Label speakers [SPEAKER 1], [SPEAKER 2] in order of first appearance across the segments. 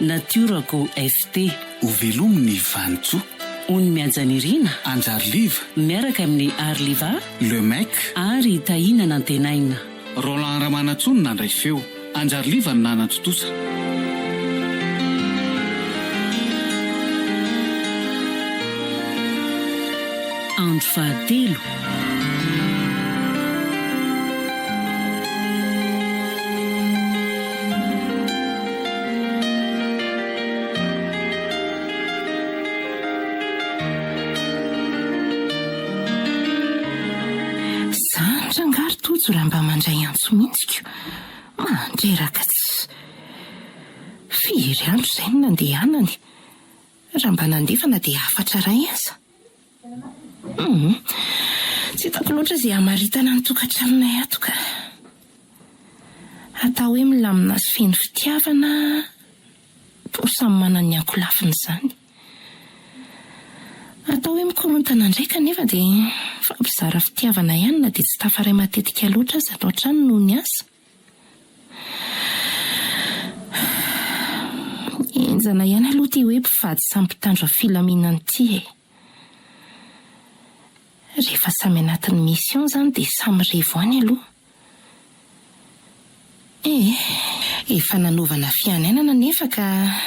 [SPEAKER 1] Natiora ko FT. Ho velomy
[SPEAKER 2] ny Vanintsoa. Ony Mihaja
[SPEAKER 1] Nirina. Anjary Liva.
[SPEAKER 2] Miaraka amin'i
[SPEAKER 1] Ary Liva. Le Mec.
[SPEAKER 2] Ary Tahina
[SPEAKER 1] Nantenaina. Roland
[SPEAKER 2] Ramanantsoa no nandray feo. Anjary Liva no nanantontosa.
[SPEAKER 1] Andro fahatelo.
[SPEAKER 3] Zatra angaha ry Tojo raha mba mandray antso mihitsiko? Mandray ragats! Firy andro izay no nandehanany? Raha mba nandefana dia hafatra iray aza. Humm. Tsy hitako loatra izay hamaritana ny tokantranonay ato ka. Atao hoe milamina sy feno fitiavana toa samy manana ny ankolafiny izany. Atao hoe mikorontana indray kanefa dia mifampizara fitiavana ihany na dia tsy tafaray matetika loatra aza ato an-trano noho ny asa. Henjana ihany aloha ity hoe mpivady samy mpitandro filaminana ity e! Rehefa samy anatin'ny mission izany dia samy revo any aloha. Ee, efa nanaovana fianianana anefa ka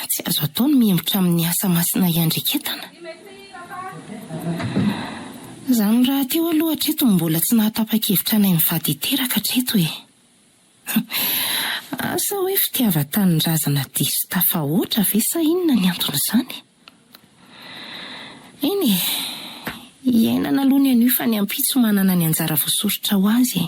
[SPEAKER 3] tsy azo atao ny mihemotra amin'ny asa masina hiandreketana. Izany rahateo aloha hatreto no mbola tsy nahatapa-kevitra ny mivady hiteraka hatreto e! Humm! Asa hoe fitiavan-tanindrazana diso tafahoatra ve sa inona ny anton'izany? Eny e! Iainana aloha ny anio fa ny ampitso manana ny anjara voasoritra ho azy e!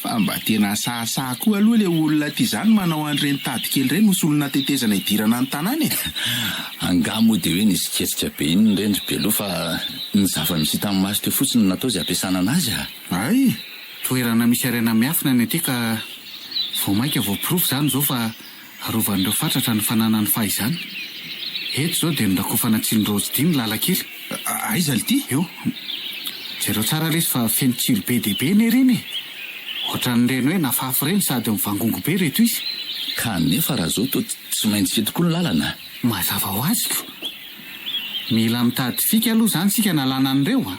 [SPEAKER 4] Fa mba tena asahasaha koa aloha le olona ty zany manao an'ireny tady kely ireny ho solona tetezana hidirana ny tanàna e! Angaha
[SPEAKER 5] moa dia hoe nisy kesika be iny re ndry Belo fa ny zava-nisy hitan'ny maso teo fotsiny no natao izay ampiasana anazy a! Hay!
[SPEAKER 4] Toerana misy
[SPEAKER 2] harena miafina ny aty ka vao maika voaporofo izany izao fa Arovan'ireo fatratra ny fananany fahizany. Eto izao dia norakofana tsilo raozy dimy lalan-kely. Aiza lty?
[SPEAKER 4] Eo.
[SPEAKER 2] Jereo tsara lesy fa feno tsilo be dia be nery iny e! Ohatran'ireny hoe nafafy ireny sady mivangongo be ireto izy. Kanefa
[SPEAKER 5] raha izao toa tsy maintsy eto koa ny lalana a! Mazava ho azy
[SPEAKER 2] ko! Mila mitady fika aloha izany isika analana an'ireo a!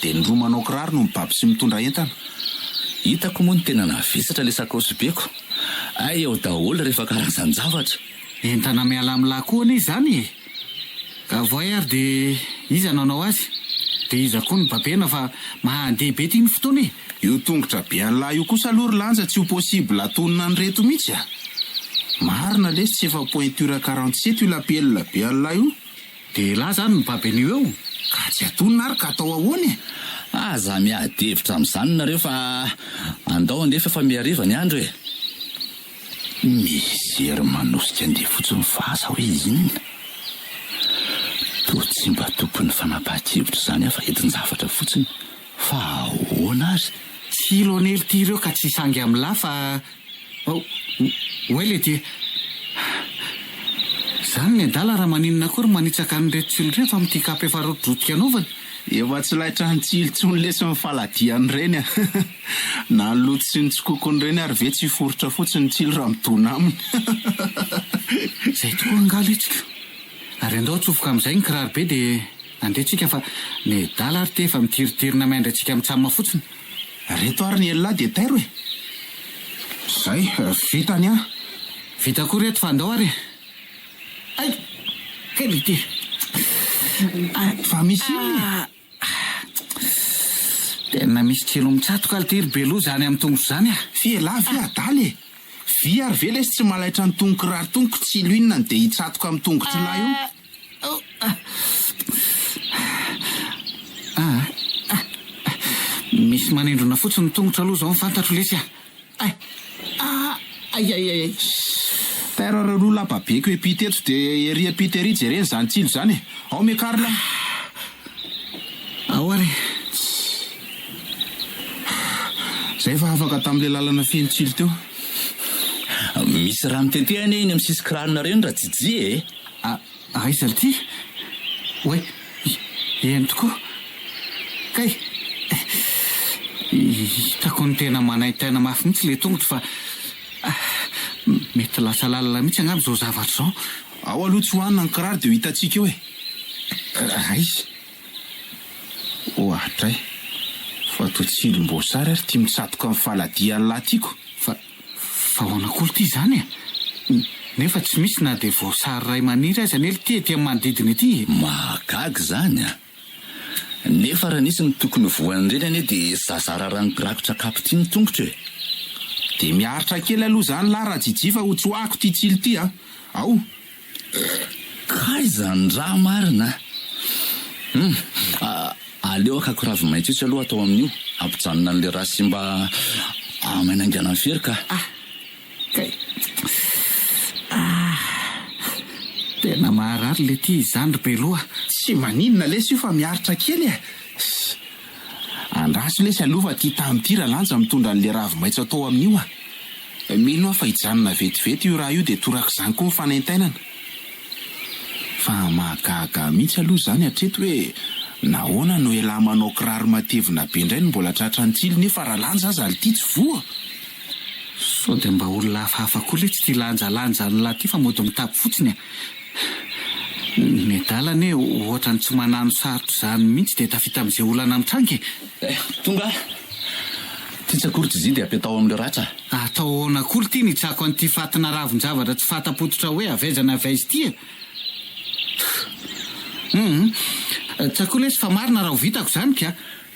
[SPEAKER 4] Dia ny roa manao kiraro no mibaby sy mitondra entana. Hitako
[SPEAKER 5] moa ny tena navesatra ilay sakaosy beko. Hay ao daholo rehefa karazan-javatra. Entana miala
[SPEAKER 2] amin'ny lahy koa anie izany e! Ka voay ary dia iza nanao azy? Dia iza koa no babena fa mandeha be ity ny fotoana e! Io tongotra be
[SPEAKER 4] an'lah io kosa aloha ry Lanja tsy ho possible atonina an'ireto mihitsy a! Marina lesy tsy efa pointure quarante sept io lapelina be an'lah io. Dia elah
[SPEAKER 2] zany ny baby an'io eo ka tsy atonina ary
[SPEAKER 4] ka atao ahoana e? Aza miady
[SPEAKER 5] hevitra amin'izany nareo fa andao andeha f'efa mihariva ny andro e! Mijery
[SPEAKER 4] manosika andeha fotsiny fa aza hoe inona?
[SPEAKER 5] Toa tsy mba tompon'ny fanapahan-kevitra izany aho fa entin-javatra fotsiny Fa ahoana azy? Tsy lonely ity
[SPEAKER 2] ireo ka tsy sangy am la fa oay lety e! Zany ny adala raha maninona akory manitsaka an'ireto tsilo ireny fa mitia kapa efa rotidrotika anaovany. Efa tsy laitra
[SPEAKER 4] ny tsilo tsony lesy ny faladiany reny a! Na ny loto sy ny tsikokony reny ary ve tsy foritra fotsiny ny tsilo raha midona aminy.
[SPEAKER 2] Zay tokoa angaha letsiko. Ary andao atsofoka amizay ny kiraro be dia. Nandre tsika fa nedala ary te efa mitiritirina main dray tsika mitsamma fotsiny. Reto ary ny
[SPEAKER 4] ellahy dia tairo e! Zay, vita ny ahy. Vita
[SPEAKER 2] koa reto fa andao ary e! Ay! Kely ity. Ay!
[SPEAKER 4] Fa misy inona e? Aah!
[SPEAKER 2] Tena misy tsilo mitsatoka
[SPEAKER 4] lty
[SPEAKER 2] ry be loza any amin'ny
[SPEAKER 4] tongotro
[SPEAKER 2] zany a! Fy
[SPEAKER 4] elah
[SPEAKER 2] ve adala e! Vy
[SPEAKER 4] ary ve lesy tsy malaitra ny tongon-kiraro tonko tsilo inona no dia hitsatoka amin'ny tongotr'ilay io?
[SPEAKER 2] Misy manindrona fotsiny ny tongotra aloha zao ny fantatro lesy a!
[SPEAKER 4] Tairo reo lo lapa be ko epi teto de ery epi tery jereny zany tsilo zany e! Ao me karl a!
[SPEAKER 2] Ao ary e!
[SPEAKER 4] Zay fa afaka tamle lalana feno tsilo teo.
[SPEAKER 5] Misy rano tetehana eny am sisikranona reny ra Jijy e! Ah, aiza
[SPEAKER 2] ity? Oay, eny tokoa. Kay, hitako ny tena manaintaina mafy mihitsy ilay tongotro fa ah, mety lasa lalina mihitsy angamba izao zavatra izao. Ao aloha tsy hohanina
[SPEAKER 4] ny kiraro dia ho hitantsika eo e! Aiza? Ohatray fa toa tsilom-boasary ary tia mitsatoka ny faladian'ilay tiako. Fa
[SPEAKER 2] Vahoana Kolo ty izany e! Nefa tsy misy na dia voasary iray maniry aza anie lty ety amin'ny manodidina ety e! Mahagaga izany
[SPEAKER 5] a! Nefa raha nisy ny tokony voan'ireny anie dia zazara ranikirakotra kapy ty ny tongotra e! Dia
[SPEAKER 4] miaritra kely aloha izany lah Rajijifa ho tsoahako ty tsilo ty a! Ao! Kay
[SPEAKER 5] izany ra marina hum aleo akako ravimaitso etsy aloha atao amin'io ampijanona an'le ra simba amainainganan'i fery ka. Ah kay
[SPEAKER 2] ah tena maharary le tia izany ry beloha. Tsy maninona
[SPEAKER 4] lesy io fa miaritra kely e. Andraso lesy alou fa ty tany ty ralanja mitondra anle ravi maitso atao aminio a! Mino aho fa hijanona vetivety io raha io de torakizany koa ny fanaintainana. Fa mahagaga mihitsy alou zany hatreto hoe nahoana no elah manao kiraro matevina be ndray no mbola tratran'ny tsilo nefa ralanja aza lty tsy voa!
[SPEAKER 2] Sao dia mba olona hafahafa koa letsy ty lanjalanja an'lah ty fa mody mitapy fotsiny a! Ny nedala anie ohatrany tsy manano sarotra izany mihitsy dia tafita amin'izay olana mitranga e! Eh, tonga ah!
[SPEAKER 5] Ty tsy akory tsy zin dia apetaho amin'ireo ratra. Atao ahoana akory
[SPEAKER 2] ity ny hitsako an'ity fatina ravin-javatra tsy fahatapototra hoe avy aiza na avy aiza ity e! Humm! Tsakoa lesy fa marina raha ho vitako izany ka!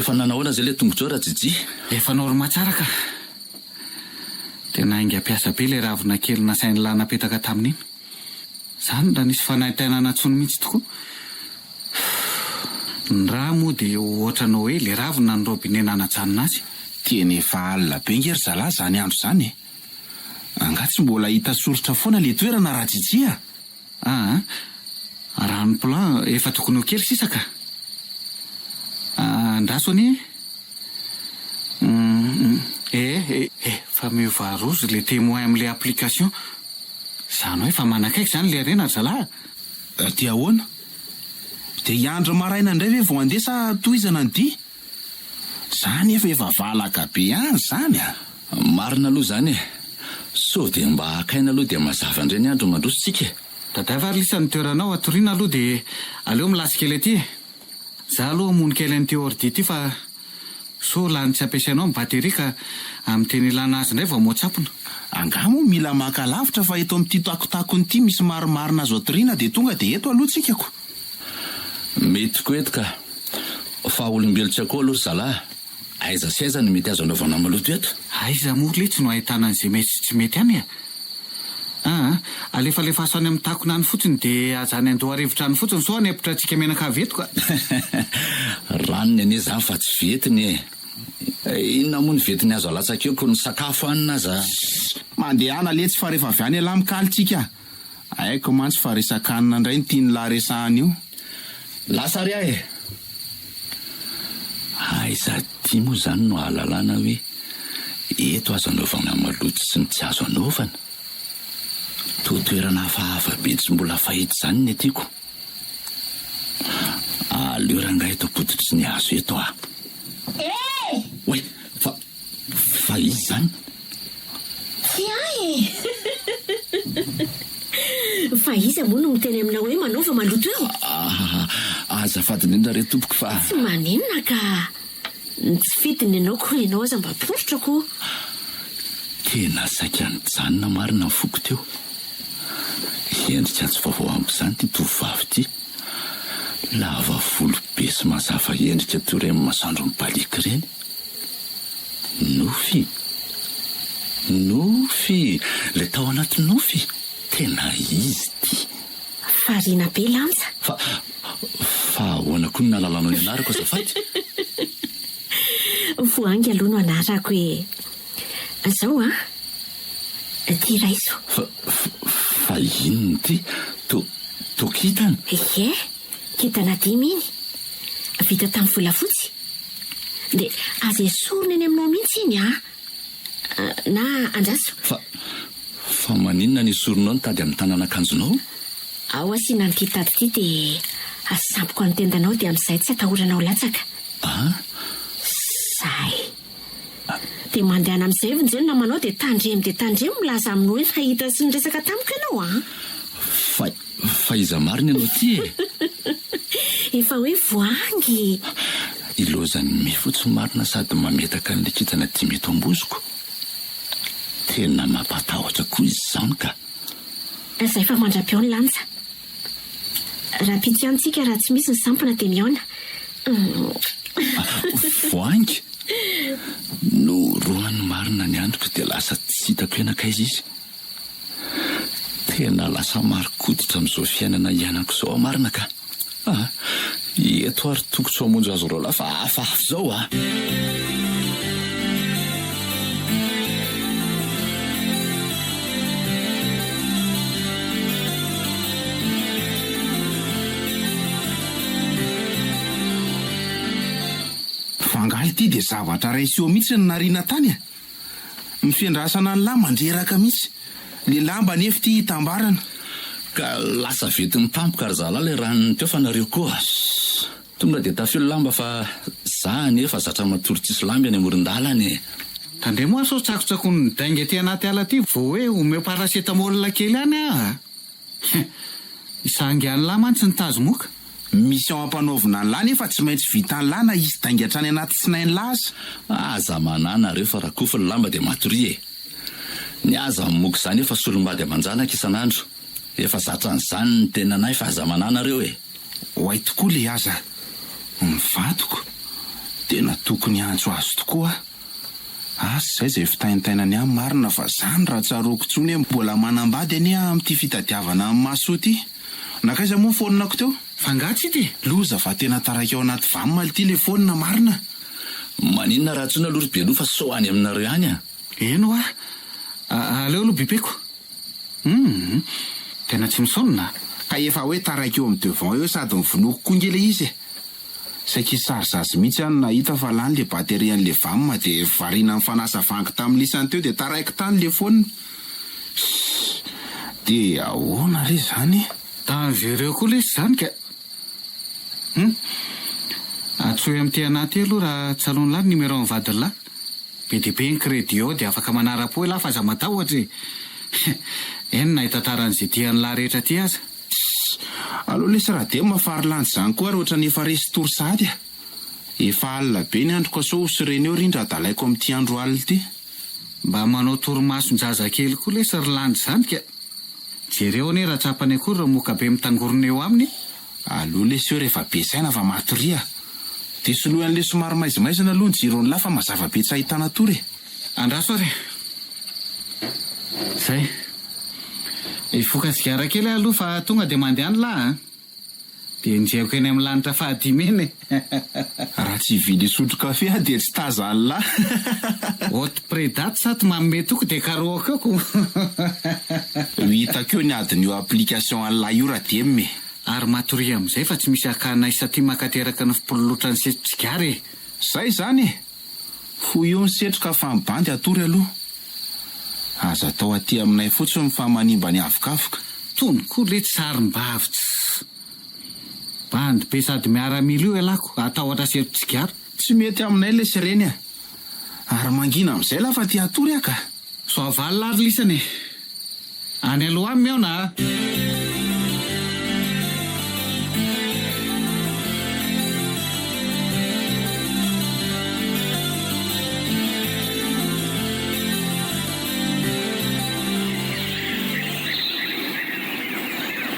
[SPEAKER 5] Efa nanahoana izay ilay tongotrao Rajiji? Efa norma tsara
[SPEAKER 2] ka. Tena haingam-piasa be ilay ravina kely nasain'lah napetaka tamin'iny. Izaho no mba nisy fanaintainana intsony mihitsy tokoa. Ny rà moa dia ohatran'ny hoe ilay ravina ny robinet nanajanona azy. Tena efa
[SPEAKER 4] alina be ange ry zalahy izany andro izany e! Angaha tsy mbola hita soritra foana ilay toerana Rajiji a! Ah ah. Raha ny plan efa tokony ho kely sisa ka.
[SPEAKER 2] Andraso anie e. Hum hum. Eh eh. Efa miova rozy le témoin amle application. Zany hoe efa manakaiky zany le harena ry zalah a. Dia
[SPEAKER 4] ahoana? Dia hiandry ny maraina indray ve vao handeha sa tohizana ny dia? Za nefa efa valaka be any zany a! Marina aloha
[SPEAKER 5] zany e! Sao dia mba haka aina aloha dia mazava indray ny andro mandroso tsika e! Tadiavo ary lisany
[SPEAKER 2] toeranao hatoriana aloha dia aleo milasy kely aty e! Za aloha hamono kely an'ity ordi ity fa sao lany tsy ampiasainao ny batterie ka amin'ny tena ilana azy indray vao moatsapona. Angaha moa mila
[SPEAKER 4] maka lavitra fa eto amin'ity takotakony ity misy marimarina azo atoriana dia tonga dia eto aloha tsika ko!
[SPEAKER 5] Mety koa eto ka. Fa olombelo tsy akoho aloha ry zalahy. Aiza sy aiza no mety azo anaovana maloto eto? Aiza moa letsy no
[SPEAKER 2] ahitana an'izay mety sy tsy mety any e? Aa! Alefalefaso any amin'ny takona any fotsiny dia aza any an-doharivotra any fotsiny sao hanepitra antsika menaka avy eto ka!
[SPEAKER 5] Ranony anie izany fa tsy ventiny e! Inona moa no ventiny azo alatsaka eo ko ny sakafo hanina aza. Sss! Mandehana
[SPEAKER 4] letsy fa rehefa avy any elah mikaly tsika a! Haiko mantsy fa resakanina indray ny tian'lah resahana io. Lasa ary
[SPEAKER 5] aho e! Aiza aty moa izany no ahalalana hoe eto aza anaovana maloto sy ny tsy azo anaovana? Toa toerana hafahafa be tsy mbola fahita izany ny atiko. Aleo rangahy eto ampototry ny hazo eto ah! Ee! Oay! Fa, fa izy izany? Tsy ahy e!
[SPEAKER 6] Fa iza moa no miteny aminao hoe manaova maloto eo? Ah,
[SPEAKER 5] azafady indrindra re tompoko fa. Tsy maninona ka!
[SPEAKER 6] Ny tsy fidiny ianao koa ianao aza mba poritra koa!
[SPEAKER 5] Tena saika nijanona marina ny foko teo. Endrika tsy vaovao amiko izany ity tovovavy ity. Lava volo be sy mazava endrika toy ireny masoandro mibaliaka ireny. Nofy? Nofy! Ilay tao anaty nofy? Tena izy ity! Variana
[SPEAKER 6] be lanja. Fa,
[SPEAKER 5] fa ahoana koa no nahalalanao ny anarako azafady?
[SPEAKER 6] Voahangy aloha no anarako e! Zao an! Ty raiso. Fa,
[SPEAKER 5] fa inona ity? To, to kintana? Ie,
[SPEAKER 6] Kintana dimy iny, vita tamin'ny volafotsy. Dia aza esorina eny aminao mihitsy iny an! Na andraso. Fa,
[SPEAKER 5] fa maninona no esorinao ny tady amin'ny tanan'akanjonao? Ao
[SPEAKER 6] asiana an'ity tady ity dia asampiko amin'ny tendanao dia amin'izay tsy atahoranao latsaka. An? Izay. Dia mandehana amin'izay ve ny Jenona amanao dia tandremo dia tandremo milaza aminy hoe nahita sy niresaka tamiko ianao an! Fa,
[SPEAKER 5] fa iza marina ianao ity e?
[SPEAKER 6] Efa hoe voahangy e! Ilozan'i
[SPEAKER 5] Mifo tsy marina sady mametaka an'ilay kintana dimy eto am-bozoko. Tena mampatahotra koa izy izany ka! Izay
[SPEAKER 6] fa mandra-peo ny lanja. Raha pitsy ihany tsika raha tsy misy ny sampona dia mihaona.
[SPEAKER 5] Voahangy? Norohany marina ny andriko dia lasa tsy hitako eo nankaiza izy. Tena lasa marin-koditra amin'izao fiainana ianako izao aho marina ka. Eto ary toko tsy mamonjy azy roalahy fa hafahafa izao a!
[SPEAKER 4] Fa angaha ity dia zavatra ray sy eo mihitsy no nariana tany a! Nofendrasana ny lahy mandreraka mihitsy le lamba nefo ity hitambarana. Ka
[SPEAKER 5] lasa vetin'ny tampoka ry zalahy le ranony teo fa nareo koa Tonga de tafio lamba fa za anie efa zatra matory tsisy lamba eny amoron-dalana e. Tandremo hoa
[SPEAKER 2] sao tsakotsakon'ny midainga ety anaty ala ity vao hoe omeo paracetamol kely any aho a! Heh! Isahangy an'lah mantsy ny tazomoka. Mission
[SPEAKER 4] ampanaovina an'lah nefa tsy maintsy vitan'lah na hisy dainga hatrany anaty tsinain'lah aza. Aza manà
[SPEAKER 5] nareo fa rakofy ny lamba dia matoria e! Ny ahy zany moka zany efa solombady aman-janaka isan'andro, efa zatra an'izany ny tenan'ahy fa aza manà nareo e! Oay tokoa
[SPEAKER 4] le aza mivadiko dia na tokony hiantso azy tokoa aho. Asa izay izay fitaintainany ahy marina fa izany raha tsaroako intsony hoe mbola manambady anie aho amin'ity fitadiavana an'i Masoa ity. Nankaiza moa ny phone-nako teo? F'angaha tsy hita e!
[SPEAKER 2] Loza fa tena
[SPEAKER 4] taraiky ao anaty vam ity le phone marina! Maninona
[SPEAKER 5] raha antsoina aloha ry Beloha fa sao any aminareo ihany a! Eny hoa!
[SPEAKER 2] Aleo aloha bipeko. Humm! Tena tsy misaonona a! Ka efa hoe
[SPEAKER 4] taraiky eo amin'ny devant eo sady mivonoako koa nge le izy e! Saiky hisy sarozazy mihitsy aho no nahita fa lany le batterie an'le vam de variana nifanasa vangy tamin'ny lisany teo de taraiky tany le phone! Hii! De ahoana re izany? Dangereux koa
[SPEAKER 2] lesy izany ka! Humm! Antsoy amin'ity anah ity aloha raha tsalon'lah ny numéro an'ny vadin'lah. Be dia be ny crédit ao dia afaka manara-po elah fa aza matahotra e! Eny na hitantara an'izay tian'lah rehetra aty aza. Tssy! Aleo
[SPEAKER 4] lesy Radem a fa ry Landy zany koa ary ohatrany efa resy tory sahady a! Efa alina be ny andro ka sao ho sirena eo ry ndra adalaiko amin'ity andro alina ity. Mba manao
[SPEAKER 2] torimason-jazakely koa lesy ry Landy zany ka! Jereo anie raha tsapany akory ireo mokabe mitangorona eo aminy e! Aleo lesy
[SPEAKER 4] eo rehefa be saina fa matoria. Dia soloy an'ilay somary maizimaizina aloha ny jiron'ny la fa mazava be tsy ahitana tory e. Andraso ary e.
[SPEAKER 2] Zay. Hivoka sigara kely aho aloha fa tonga dia mandeha ny la a. Dia enjehiko eny amin'ny lanitra fahadimy eny e. Raha
[SPEAKER 4] tsy hividy hisotro kafe aho dia tsy taza Allah. Haute
[SPEAKER 2] predate sa ty manome toky dia karohako eo ko. Ho hitako
[SPEAKER 4] eo ny adiny io application Allah io ra dem e. Ary matoria
[SPEAKER 2] amin'izay fa tsy misy hakana ahy satria makateraka ny fpololotra ny setr'i Tsigara e. Zay izany
[SPEAKER 4] e! Fohy eo ny setroka fa ny bandy hatory aloha. Aza atao aty aminay fotsiny fa manimba ny havokavoka. Tony koa letsy
[SPEAKER 2] sarim-bavy tsy. Bandy be sady miaramila io elako atahotra sery tsigara. Tsy
[SPEAKER 4] mety aminay le sireny a!
[SPEAKER 2] Ary
[SPEAKER 4] mangina amizay la fa te hatory ah ka! Soavaly
[SPEAKER 2] ary lisany e! Any aloha aminy aona a!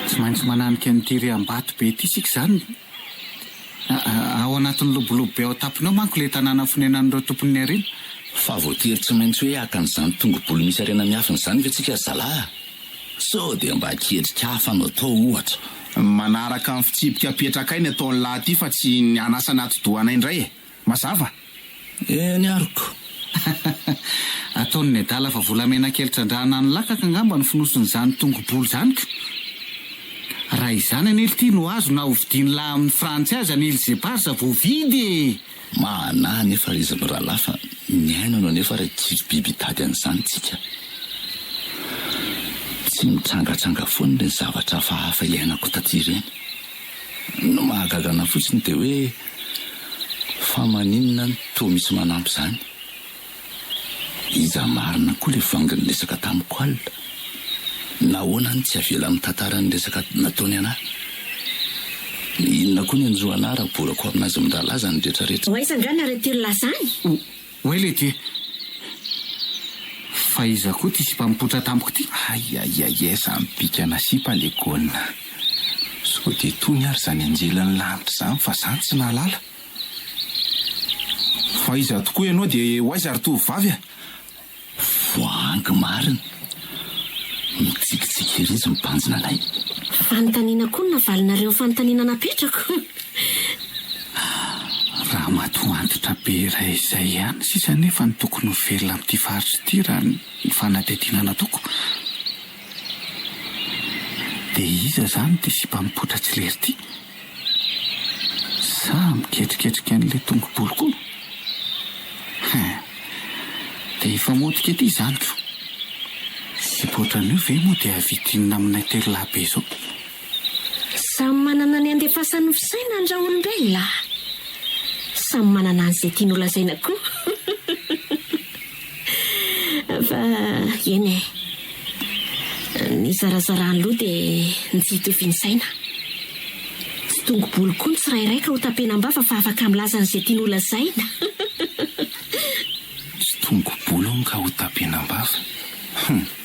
[SPEAKER 2] Tsy maintsy mananika an'ity riam-bato be ity isika izany. Ao anatin'ny lobolobo be ao an-tampony ao manko ilay tanàna fonenan'ireo tompon'ny harena. Fa voatery
[SPEAKER 5] tsy maintsy hoe haka an'izany tongo-bolo misy harena miafina izany ve isika ry zalahy? Sao dia mba an-ketrika hafa no atao, ohatra? Manaraka ny
[SPEAKER 4] fitsipika apetrakay ny ataon'lah ity fa tsy ny hanasa ny atidohanay indray e! Mazava e ny
[SPEAKER 5] aroko. Ataon'i
[SPEAKER 2] nedala fa volamena kely trandrahana any lakaka angamba ny fonosin'izany tongo-bolo izany ka! Raha izany anie lty no azo na hovidian'i lahy amin'ny frantsy azy any îles éparses voavidy e! Mahanahy
[SPEAKER 5] anefa ry izy mirahalahy fa miaina no anefa ary tsisy biby hitady an'izany tsika. Tsy mitrangatranga foana ireny zavatra hafahafa iainako taty ireny. Ny mahagaga anah fotsiny dia hoe. Fa maninona no toa misy manampy izany? Iza marina koa ilay vangy niresaka tamiko alina? Nahoana no tsy avela mitantara ny resaka nataony anà? Inona koa ny anjo anà raha borako amin'azy miralaza ny retraretra? Ho aiza angaha ny Arretir-la
[SPEAKER 6] zany? Oay lety
[SPEAKER 2] e! Fa iza koa ty sipa mipoitra tampoka ty? Aiaiaiai
[SPEAKER 4] zany bikana sipa le gôna. Sao dia tony ary zany anjelin'ny lanitra zany fa za tsy nahalala. Fa iza tokoa ianao dia ho aiza ry tovovavy a?
[SPEAKER 5] Voahangy marina. Mitsikitsiky ery izy mibanjina anay. Fanontaniana
[SPEAKER 6] koa no navalinareo ny fanontaniana napetrako.
[SPEAKER 2] Raha matoa antitra be iray izay ihany sisa anefa no tokony ho velona amin'ity faritra ity raha ny fanadihadiana nataoko, dia iza izany ity sipa mipoitra tsy lery ity? Za miketriketrika an'ilay tongobolo ko. Hein. Dia hifamotika ety izany ko. Zipo ohatran'io ve moa dia vidianina aminay telo lahy be izao.
[SPEAKER 6] Samy manana ny andefasany ny fisaina ny raolombelona a. Samy manana an'izay tiany holazaina koa. Fa eny e, ny zarazaran'ny loha dia ny tsy hitovian'ny saina. Tsy dongo-bolo koa ny tsirairay ka ho tapenam-bava fa afaka milaza an'izay tiany ho lazaina.
[SPEAKER 4] Tsy dongo-bolo hono ka ho tapenam-bava. Hum.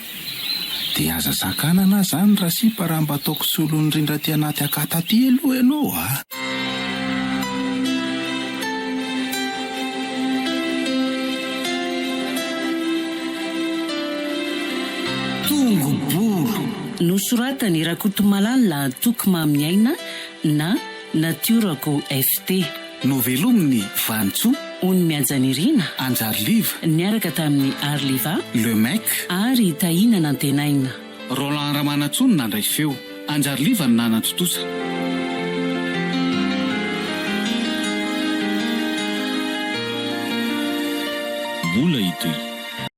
[SPEAKER 4] Dia aza sakanana aho zany ra sipa raha mba ataoko solon'ny rindra aty anaty akata aty aloha ianao a!
[SPEAKER 2] Tongo boro! Nosoratan'i
[SPEAKER 1] Rakotomalala Toky Maminiaina na. Natiorako FT. Novelomin'i
[SPEAKER 2] Vanintsoa. Ony Mihaja
[SPEAKER 1] Nirina. Anjary Liva.
[SPEAKER 2] Niaraka tamin'i
[SPEAKER 1] Ary Liva. Le Mec.
[SPEAKER 2] Ary Tahina
[SPEAKER 1] Nantenaina. Roland
[SPEAKER 2] Ramanantsoa no nandray feo. Anjary Liva no nanantontosa.
[SPEAKER 7] Mbola hitohy.